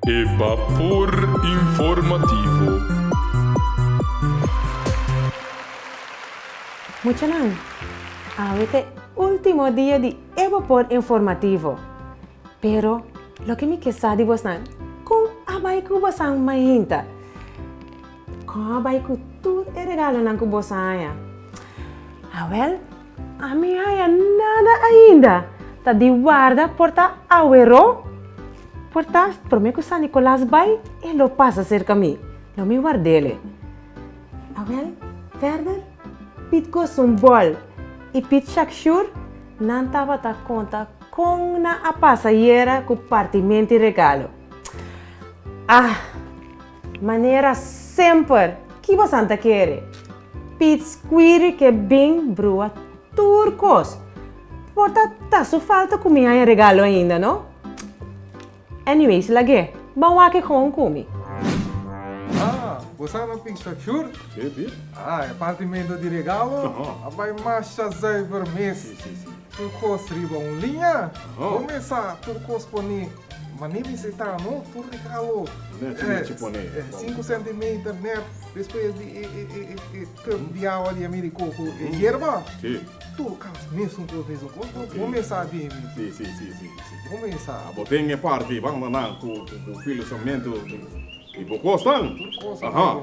E Bapor Informativo. Muchanan, awe ta e ultimo dia di e Bapor Informativo. Pero loke mi ke sa di bosnan, kon a bai ku bosan mainta? Kon a bai ku tur e regalonan ku bosa haña? Awèl. A mi haya nada ainda. Ta di warda por ta awero. Por ta prome ku San Nikolas bai e lo pasa serka mi. Lo mi wardel e. Awel, Ferder, Piet Goes un Bol i Piet Shak Shur nan tabata konta kon nan a pasa yera ku partimenti regalo. Ah! Manera semper, ki bosan ta kere? Piets quiri ke bin brua tur kos. Por ta ta su falta ku mi haña regalo ainda, no? Anyways, lag'é, ban wak kon kumi. Ah, bo sa na pinta shur? Sí, sí. Ah, e partimentu di regalo a bai masha zuiver mes. Sí, sí, sí. Tur kos riba un liña. Bo mesa tur kos poni Mane mi se ta no tur di kabo sinku sentimeter net despues di e kub di awa di Ameriko ku e yerba tur kas mesun kos mesun kos no bo mes sa bien bien bo mes sa abo ten e parti banda nan ku filosofiamentu di bo kosnan tur kos abo.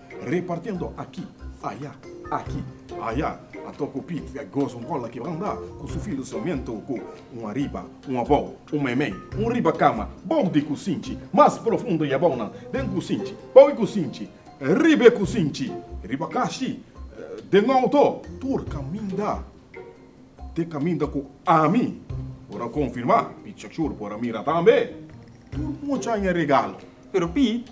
Repartiendo aki, aya, aki, aya, a toco Piet e goza un cola ki banda cu su filo sarmiento cu un ariba, un abao, un meimei, un riba cama, bao di cusinchi, mas profundo y abaonan, den cusinchi, bao e cusinchi, riba e cusinchi, riba cashi, den auto. Tur caminda te caminda cu ami, por a confirma, Piet Shakshur por a mira tambe. Tur mucha aña regalo. Pero Piet.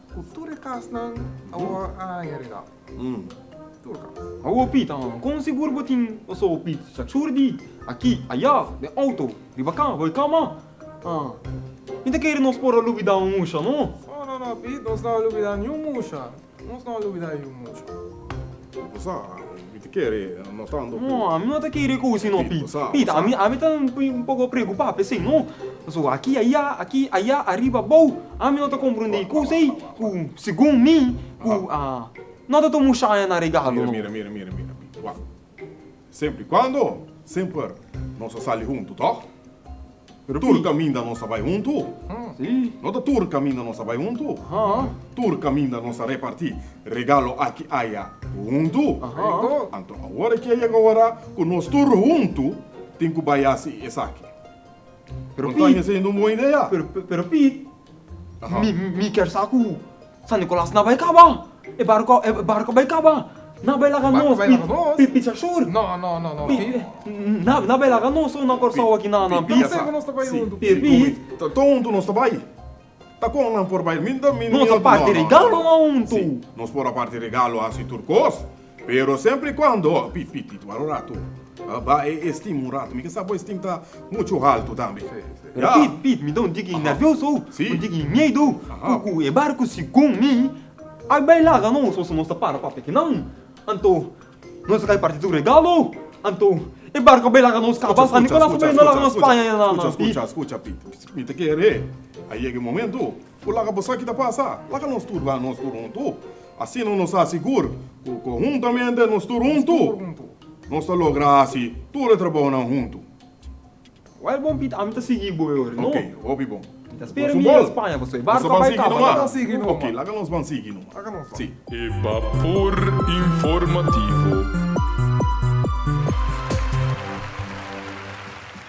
Ku tur e kasnan a wòrdu añadidá. Tur kas. A wou Pita, ha? Kon sigur bo tin pasoba Pit? Chachur di aki, ayá, den outo, riba ka, bai kama. Ha. Mi ta kere nos por a lubidá un musha, no? No, no, no, Pit, nos no a lubidá niun musha. Nos no a lubidá e un musha. Bo sa, Mi ta kere no tanto ku. No, ami no ta kere ku sino Pita. Sa, Pita, sa. ami, ami ta un poko preokupá pa esei. No, pasobra aki ayá, aki ayá, ariba abou, ami no ta komprendé kusa ei ku segun mi ku a no ta tuma un shaya na regalo. No. Mira, mira, mira, mira, mira, wak. Semper i kuando semper nos a sali huntu, tòg? Pero tur kaminda nos a bai huntu? Si. No ta tur kaminda nos a bai huntu. Ahan. Tur kaminda nos a repartí regalo aki aya huntu. Korekto. Anto awor e ke yega ora ku nos tur huntu tin ku bai hasi esaki. Pero Pit. Kontaña siendo un bon idea. Pero Pit, mi kier sa ku. San Nicolas na bai kaba. E barco e barco bai kaba. Na bai laga nos pi pisa shor. Na bai laga nos shor na Corsou aki na na pisa. Pi nos ta bai huntu pi pi. Ton huntu nos ta bai. Ta con nan por bai mi no mi no. Nos a parti regalo na huntu. Si nos por a parti regalo hasi tur cos. Pero semper y cuando a pi pitit waro rato a ba e estim un rato mi ke sa bo estim ta mucho halto tambe ya pit pit mi ta un tiki nervioso si un tiki miedo ku ku e barco sigon mi a bai laga nos o so nos ta para papia kinan anto nos kai parti tur regalo anto e barco a bai laga nos kaba san nicolas a bai na laga nos spaña ya nan nan pit skucha pit skucha mi ta kere a yega e momento ku laga bo sa ki ta pasa laga nos tur ba nos tur huntu. Asina nos ta sigur ku ku huntamente nos tur huntu, nos ta logra hasi tur e trabounan huntu. Wai bon Pita, ami ta sigui bo e ora, no? Oke, hopi bon. Mi ta spera mi yega Spaña pasobra e barku a bai kaba. Laga nos ban sigui numa. Oke, laga nos ban sigui numa. Si. E Bapor Informativo.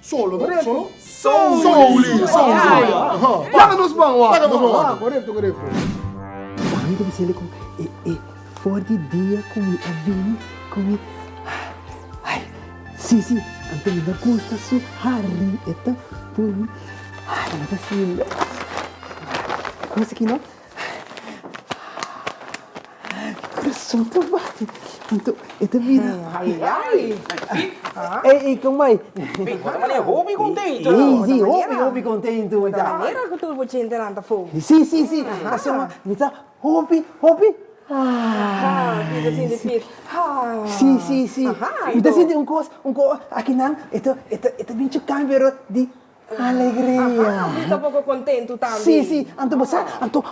Solo no? Solo? Souli. Souli. Paga nos man wak. Paga nos man wak. Correcto, correcto. Mami ta diciendo con e e for di dia cu mi a bini cu mi ay si si anto mi no gusta su hari e ta puru ay mi ta siente cosa aki no. Corazón ta bate anto e ta bira. Ay ay. Ey ey con mai. Ey bo ta manera hopi contento. Ey si hopi hopi contento mi ta. Ta manera cu tur bo chente nan ta fogo. Si si si pasobra mi ta hopi hopi. Mi ta sinti pit. Si si si mi ta sinti un cos un cos aki nan e ta e ta e ta bin cho cambio di. Alegria. Aha, mi ta poko kontentu tambe. Sí, sí, anto bo sa, anto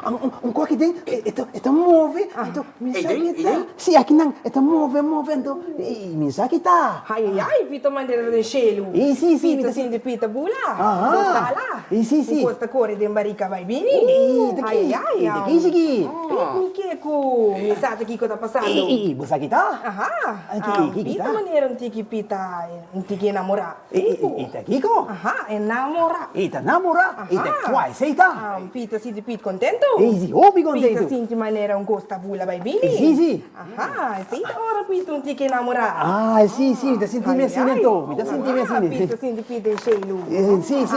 un kos aki den e ta move, anto mi no sa ki e ta. Sí, aki nan e ta move, move, anto mi no sa ki e ta. Ai, ai, ai, Pita Mandera den shelu. Sí, sí, sí. Pita sinti Pita bula. Aha. Bo sa la. Sí, sí, sí. Un kos ta kore den barika bai bini. Ii, ta ki. Ai, ai, ai. Ta kishi ki. Mi ke ku mi sa ta kiko ta pasando. Ii, bo sa ki ta. Aha. Ki, ki ta. Pita Mandera un tiki Pita, un tiki enamora. I ta kiko? Aha, e namora. I ta namora, i ta kwai seita. Aha, Pita sinti Pit kontentu. I si, hopi kontentu. Pita sinti manera un kos ta bula bai bini. Si, si. Aha, esei ta ora Pita un tiki namora. Ah, si, si, mi ta sinti mi asina entou. Mi ta sinti mi asina. Aha, Pita sinti Pit den shei nu. Si, si.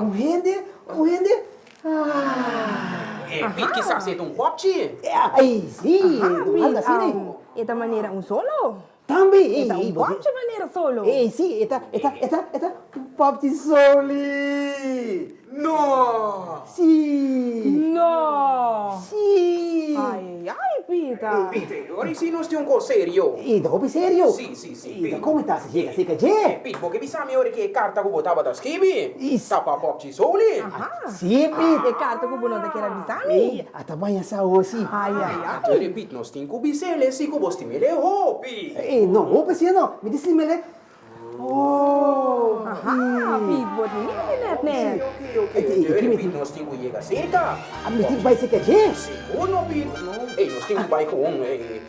Un hende, un hende, ah. Pit kisas e ta un hòpchi. Ai, si, un hòpchi asina i. E ta manera un solo. Tambe, ei, ei. E ta un hòpchi manera solo. Ei, si, e ta, e ta, e ta, e ta un hòpchi soli. No! Si. No! Si. Ai, ai, Pita. Ei, Pita, ora i si nos tin un kos serio. I ta hopi serio. Si, si. Si, ta como ta si yega cerca dje? Ey, Pit, bo ke bisa mi ora ke e carta cu bo tabata skibi, ta pa Popchi Souli? Aha. Si, Pit. E carta cu bo no ta kier a bisa mi. Ey, ata maña saosi. Ay, ay, ay. Kere, Pit, nos tin cu bisele si cu bo stimele hopi. Ey, no hopi asina no. Mi tin stimele oh. Aha, Pit, bo tin yega di net, net. Ok, ok, ok. Kere, Pit, nos tin cu yega cerca. Mi tin bai cerca dje. Segur no, Pit. Ey, nos tin cu bai cu un, ey.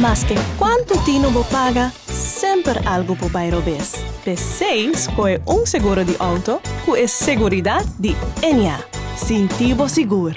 Maske kuantu tino bo paga, semper algu por bai robes. P'esei skohe un seguro di outo ku e seguridat di Enya. Sinti bo sigur!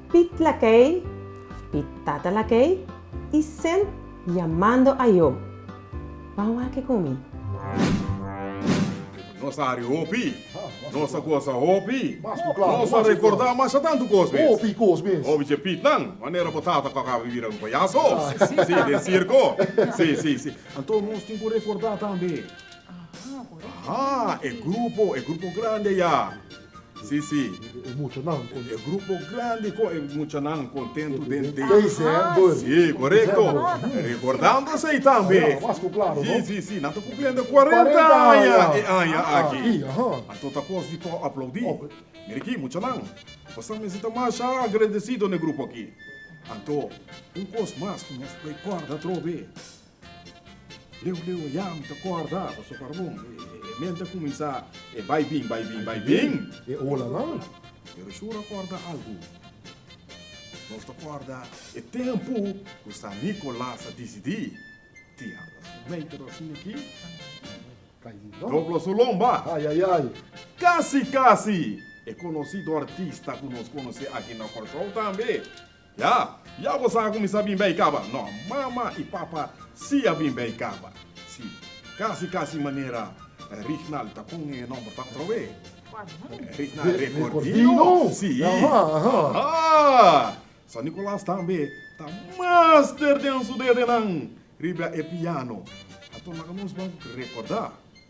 Pit lakei, Pit tata lakei i sel yamando a yo. Ban wak ku mi. Nos a ri hopi, nos a gosa hopi, nos a rekorda masha tantu kos mes. Obi dje Pitnan, manera bo tata ku a kaba di bira un payaso, si, den sirko. Si, si, si. Anto nos tin ku rekorda tambe e grupo, e grupo grandi eya. Sí, sí. E muchanan con. E grupo grandi con e muchanan contento den december. Sí, correcto. Recordando esey tambe. Mas cu claro, no? Sí, sí, sí. Nan ta cumpliendo 40 aña e aña aki. Aki, aha. Anto ta cos di por aplaudi. Mira aki, muchanan. Boso mester ta masha agradecido na e grupo aki. Anto, un cos mas cu nos por e corda atrobe. Leu leu e yam ta kòrda pasobra pa Ramon e men ta kuminsá e bai bin, bai bin, bai bin e olanan. Pero Shura kòrda algu. Nos ta kòrda e tempu ku San Nicolas a disidí tia su meitero asin aki, dobla su lomba. Kasi kasi e konosí do artista ku nos konosí aki na Kòrsou tambe. Ya, ya bo sa ku mi sa bin bai kaba. No, mama i papa si a bin bai kaba. Si, kasi kasi manera Rignal ta pon e nòmber ta otra we. Rignal Rekordino. Si. Ahaa! San Nikolas tambe ta master den su dedenan riba e piano. Ato nan nos ban rekordá.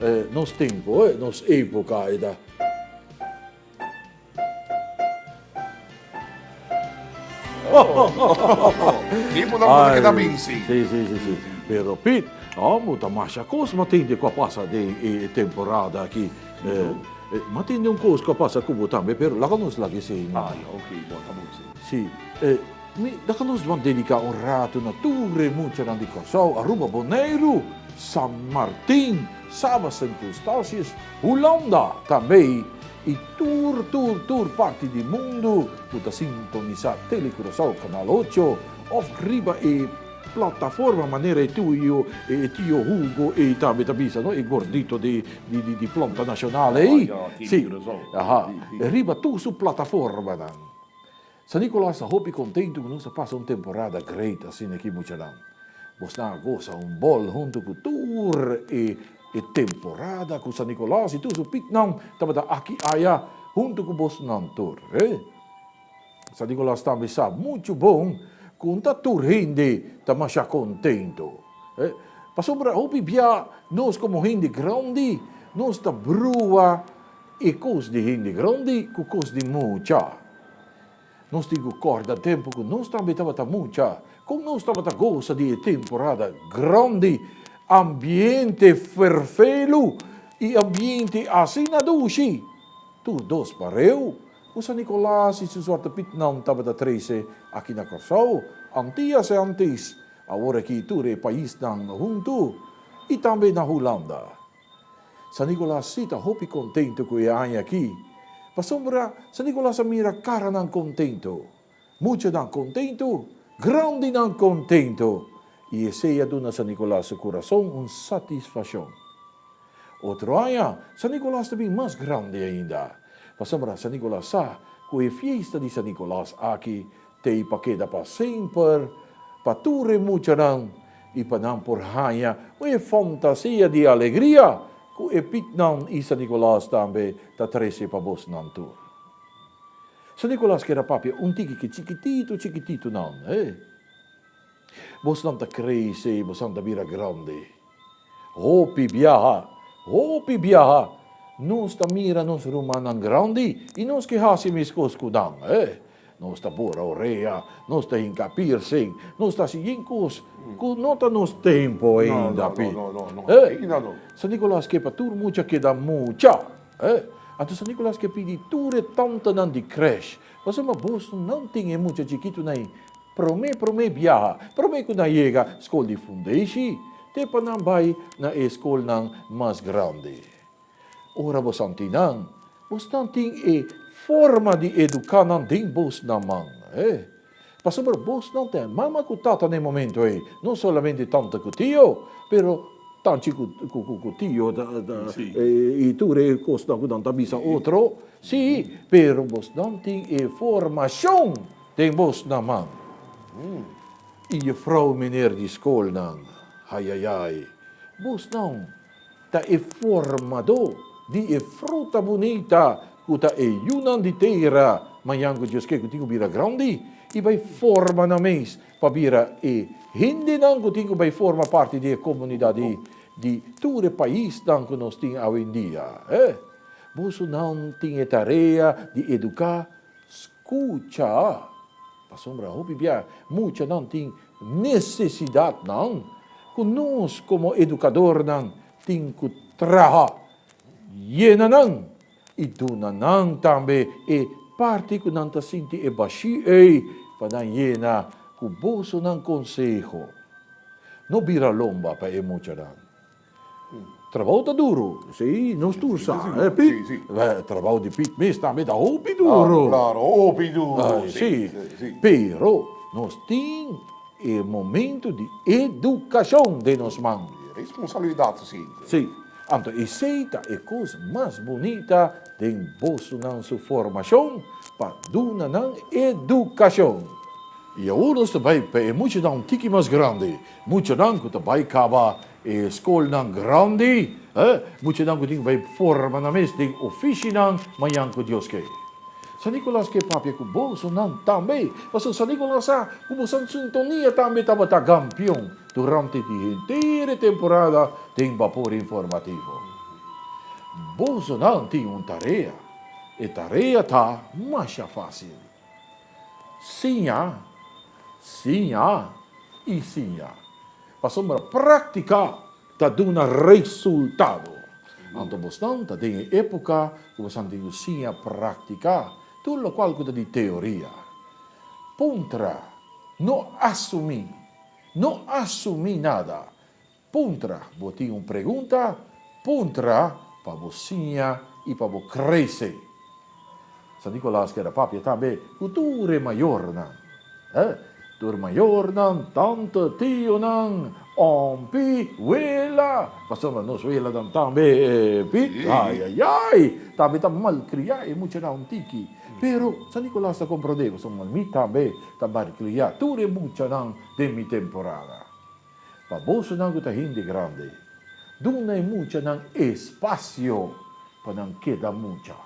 E nos tempo, e nos epoca e ta. Ki por nan por keda bin, si. Si, si, si, si. Pero Pit, amo ta masha kos ma tende kua pasa den e temporada aki. Ma tende un kos kua pasa ku bo tambe, pero laga nos lag'e sei no. Ah, ya, ok, bo ta bon si. Si, e. Mi ta ka nos bon dediká un ratu na tur re muchanan di Kòrsou, Aruba, Boneiru, San Martin, Saba, Sint Eustatius, Hulanda, Tabei i tur tur tur parti di mundu ku ta sintonisá Tele Curaçao Kanal Ocho òf riba e plataforma manera e tio e tio Hugo ei tambe ta bisa no e gordito di di plonta nashonal ei si aha riba tur su plataformanan. San Nicolas ta hopi contentu cu nos a pasa un temporada great asina aki muchanan. Bos nan a goza un bol hunto cu tur e e temporada cu San Nicolas y tur su pitnan tabata aki aya hunto cu bos nan tur. San Nicolas tambe sa mucho bon cu nta tur hende ta masha contentu. Pasobra hopi bia nos como hende grandi nos ta brua e cos di hende grandi cu cos di mucha. Nos tin ku kòrda tempu ku nos tambe tabata mucha kon nos tabata gosa di e temporada grandi ambiente ferfelu i ambiente asina dushi. Tur dos pareu ku San Nikolas i su Zwarte Pietnan tabata trese aki na Kòrsou, Antias e Antis, awor aki tur e paisnan huntu, i tambe na Hulanda. San Nicolas sí ta hopi contento cu e aña aki, pasobra San Nicolas a mira caranan contento, muchanan contento, grandinan contento y esey a duna San Nicolas su corazon un satisfaccion. Otro aña San Nicolas ta bin mas grandi ainda, pasobra San Nicolas sa cu e fiesta di San Nicolas aki T'ei pa keda pa semper, pa tur e muchanan i pa nan por haña un e fantasia di alegria ku e pitnan i San Nikolas tambe ta trese pa bosnan tur. San Nikolas keda papia un tiki ke chikititu chikititunan. Bosnan ta krese, bosnan ta bira grandi. Hopi biaha, hopi biaha, nos ta mira nos rumannan grandi i nos ke hasi meskos ku nan. E, nos ta bora orea, nos ta hinka piercing, nos ta hasi yin kos ku no ta nos tempu ainda, pi. E, San Nikolas ke pa tur mucha keda mucha. E, anto San Nikolas ke pidi tur e tantanan di krèsh pa suma bos nan tin e mucha chikitu na e. Promé promé biaha, promé ku nan yega skol di fundeishi, te pa nan bai na e skolnan mas grandi. Ora bo santi nan, bo stan tin e forma di eduká nan den bos nan man. E. Pasobra bos nan ta e mama ku tata na e momentu ei, no solamente tanta ku tio, pero tanchi ku tio i tur e kosnan ku nan ta bisa otro. Sí, pero bos nan tin e formashon. Den bos na man. I jufrou miner di skolnan. Ayayay. Bos non ta e formadó di e fruta bunita ku ta e yunan di tera. Mañan ku Dios ke ku tin ku bira grandi i bai forma nan mes pa bira e hendenan ku tin ku bai forma parti di e komunidat di tur e paisnan ku nos tin awendia. Boso nan tin e tarea di eduká Scucha! Pasobra hopi bia muchanan tin necesidadnan cu nos como educadornan tin cu traha, yena nan y duna nan tambe e parti cu nan ta sinti e bashi ey pa nan yena cu bosonan conseho. No bira lomba pa e muchanan. Trabao ta duro, si, nos tur sa, eh, Pit? Si, si. Trabao di Pit mes tambe ta hopi duro. Ah, claro, hopi duro, si, si. Si, si. Pero nos tin e momento di educacion den nos man. E responsabilidad su sint'e. Si. Anto esey ta e cos mas bunita den bosonan su formacion, pa duna nan educacion. Y awor nos ta bay pa e muchanan un tiki mas grandi, muchanan cu ta bay caba E skolnan grandi, e muchanan ku tin bai forma nan mes den ofishinan mañan ku Dios ke. San Nicolas ke papia ku bosonan tambe, pasobra San Nicolas sa ku bosonan sintonia tambe tabata gampion durante di henter e temporada den Bapor Informativo. Bosonan tin un tarea, e tarea ta masha fásil. Siña, siña i siña pasobra práktika ta duna resultado. Anto bosnan ta den e époka ku bosan tin ku siña práktika tur lokual ku ta di teoria. Puntra, No asumí, no asumí nada. Puntra, Bo tin un pregunta? Puntra pa bo siña i pa bo krese. San Nikolaas keda papia tambe ku tur e mayornan. E tur mayornan, tante, tionan, ompi, wela, pasobra nos welanan tambe e pit. Ayayay! Tambe ta malkriá e muchanan un tiki. Pero San Nikolaas ta komprondé, pasobra mi tambe ta malkriá tur e muchanan den mi temporada. Pa bosonan ku ta hende grandi, duna e muchanan espasio pa nan keda mucha,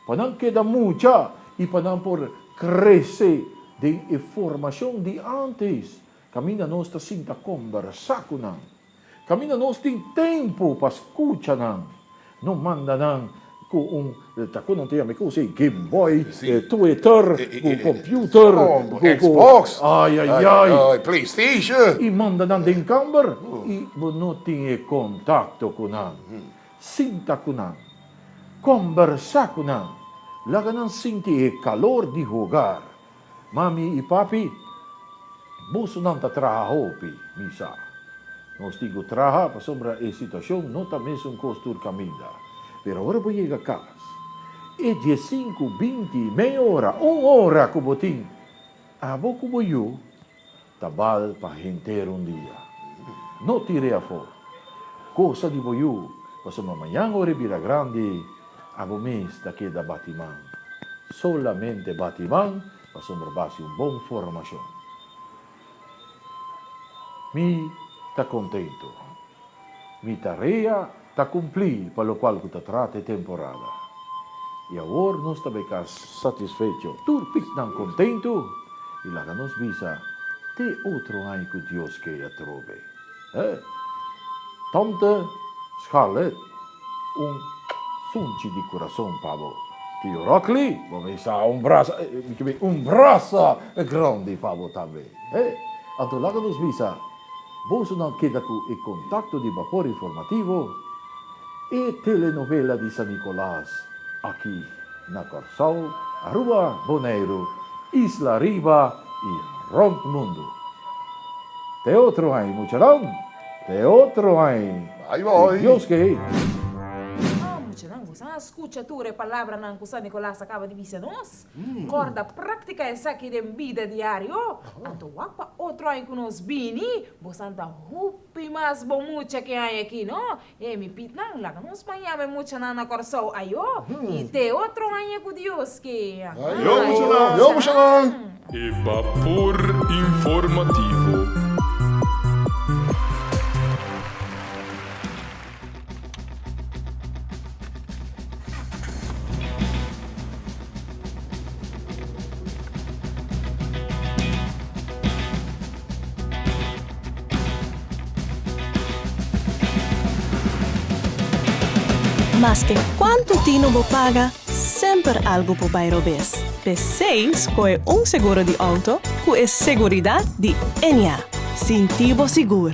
pa nan keda mucha i pa nan por krese den e formashon di ántes. Kaminda nos ta sinta kombersá ku nan, kaminda nos tin tempu pa skucha nan, No manda nan cu un ta cu nan ta yama e cosa ey game boy, twitter, cu computer, cu xbox, ay ay ay, playstation, y manda nan den camber y bo no tin e contacto cu nan, sinta cu nan, combersa cu nan, laga nan sinti e calor di hogar, Mami i papi, bosonan ta traha hopi, mi sa. Nos tin ku traha pasobra e situashon no ta mesun kos tur kaminda. Pero ora bo yega kas, e diesinku, binti, mei ora, un ora ku bo tin, abo ku bo yu Ta bal pa henter un dia. No tire afó kosa di bo yu, pasobra mañan ora e bira grandi, abo mes ta keda bati man. Solamente bati man, pasobra b'hasi un bon formashon. Mi ta kontentu. Mi tarea ta cumpli pa locual cu ta trata e temporada. Y awor nos ta bay cas satisfecho, tur picnan contento y laga nos bisa te otro aña cu Dios key atrobe. Eh! Tomte Scarlett, un sunchi di corazon pa bo. Tio Rockly, bo bisa un brasa, mi ke bay un brasa grandi pa bo tambe. Eh! Anto laga nos bisa. Boso nan keda ku e kontakto di Bapor Informativo, e telenovela di San Nikolaas aki na Kòrsou, Aruba, Boneiru, Isla Riba i rònt mundu. Te otro ai, muchanan! Te otro ai! Ku Dios ke hei! Muchanan, boso a skucha tur e palabranan ku San Nikolaas a kaba di bisa nos? Corda practica esaki den bida diario, anto wak pa otro aña cu nos bini, bo san ta hopi mas bon mucha ke aña aki, no? Hei, mi pitnan, laga nos baña mi muchanan na Corsou ayo y te otro aña cu Dios kie. Ayo muchanan! E Vapor Informativo. Maske kuantu tino bo paga, semper algu por bai robes. P'esei skohe un seguro di outo ku e seguridat di NA. Sinti bo sigur!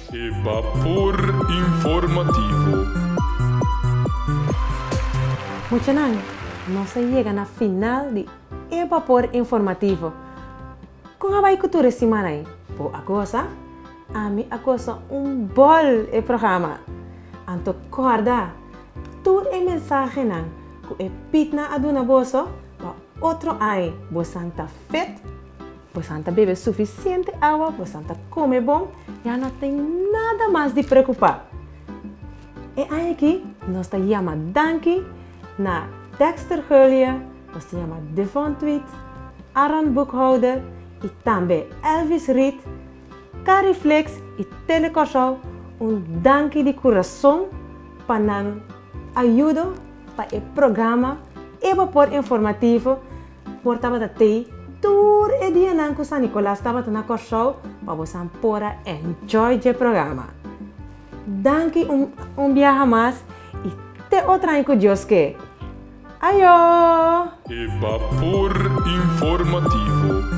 E Bapor Informativo. Muchanan, nos a yega na final di E Bapor Informativo. Kon a bai ku tur e simana ei? Bo a gosa? Ami a gosa un bòl e programa! Anto kòrda, tur e mensahenan ku e pitnan a duna boso, pa otro ai bo san ta fit! Bosan ta bebe sufisiente awa, bosan ta kome bon, ya no tin nada mas di preocupa. E aña aki nos ta yama danki na Dexter Hurlia, nos ta yama Devon Tweet, Aaron Boekhouder y tambe Elvis Reed, Carrie Flex y Tele Corsou un danki di curazon pa nan ayudo pa e programa Ecuapor Informativo Por tabata tei tur e dianan ku San Nikolas tabata na Kòrsou pa bosan por a enjoy dje programa. Danki un un biaha mas i te otro aña ku Dios ke. Ayo! E Vapor Informativo.